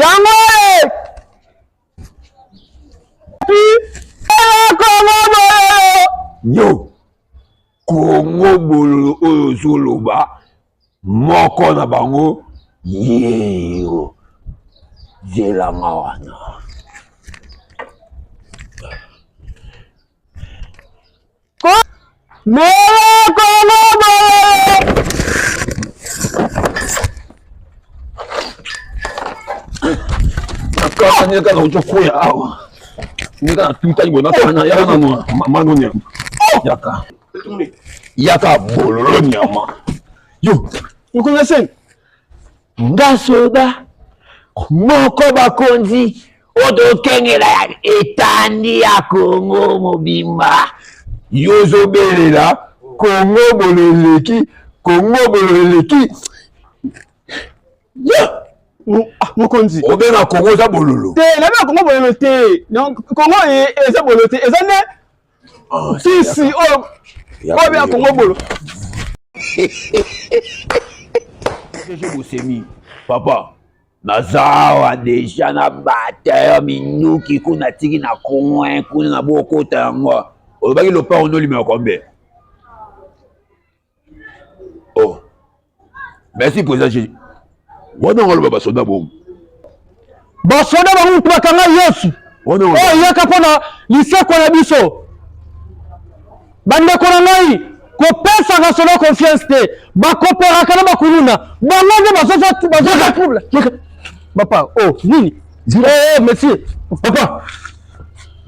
yango yo kongo bololo oyo ozoloba moko na bango yeyo zelanga wana Neka na ujo kuya awa. Neka na tuta ibo na tana ya na no mano nya. Yaka. Yaka bololo nyama. Yo, uko na sen. nga soda moko bakonzi oyo tokengela ya etandi ya kongo mobimba yo ozobelela kongo bolo eleki kongo bolo eleki ah, mokonzi obenga kongo oza bololo te nabena kongo bololo te kongo e, eza bololo te eza nde Ah, kisi oyo oh, oyo ya kongo bolo soki bosemi papa nazawa deja na bata ya minduki kuna tiki na coin kuna na bokota yango olobaki lopango nolimela kombe oh merci président jésus wana ngo aloba basoda bongo basoda bango motu bakanga yesu oyo eyaka mpo na lisekwa ya biso bandeko na ngai kopesaka solo confiance te bakoperaka na bakuluna bango nde bazoza trouble papa o oh, nini eh, eh, monsieur papa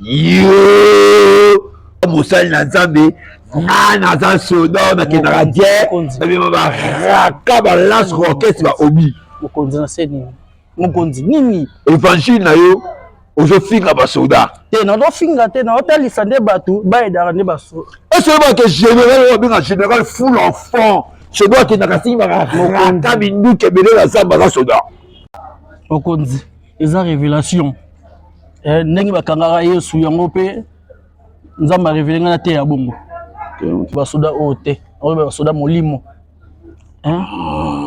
yo mosali na nzambe nga naza soda nakendaka te babima baraka balance orchestre baobi mokonzi na se nini mokonzi nini évangile na yo ozofinga basoda te nazofinga te naotalisa nde bato bayedaka nde basoda esoyebake général oyo abenga général full enfant soda akendaka simbaka raka minduki ebele na zamba na soda mokonzi eza revelation eh, ndenge bakangaka yesu yango mpe nzambe arevele ngai na te ya bongo basoda oyo te oyo basoda molimo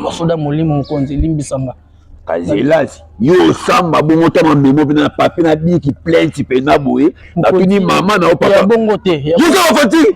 basoda molimo mokonzi limbisanga kasi elasi yo osamba bongo ta mamemo mpena na pape na biki plainte mpena boye natuni mama na yo papa bongo te yoza okoti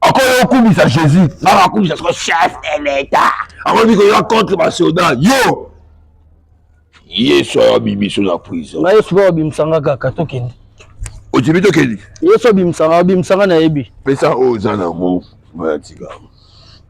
okoya okumisa jésus nanga akumisa soko chef de l'état akomi koya contre basoda yo yesu ayo abimiso na prison na yesu mpe obimisanga kaka tokende ojibi tokende yesu obimisanga obimisanga nayebi pesa oyo oza nango mayatika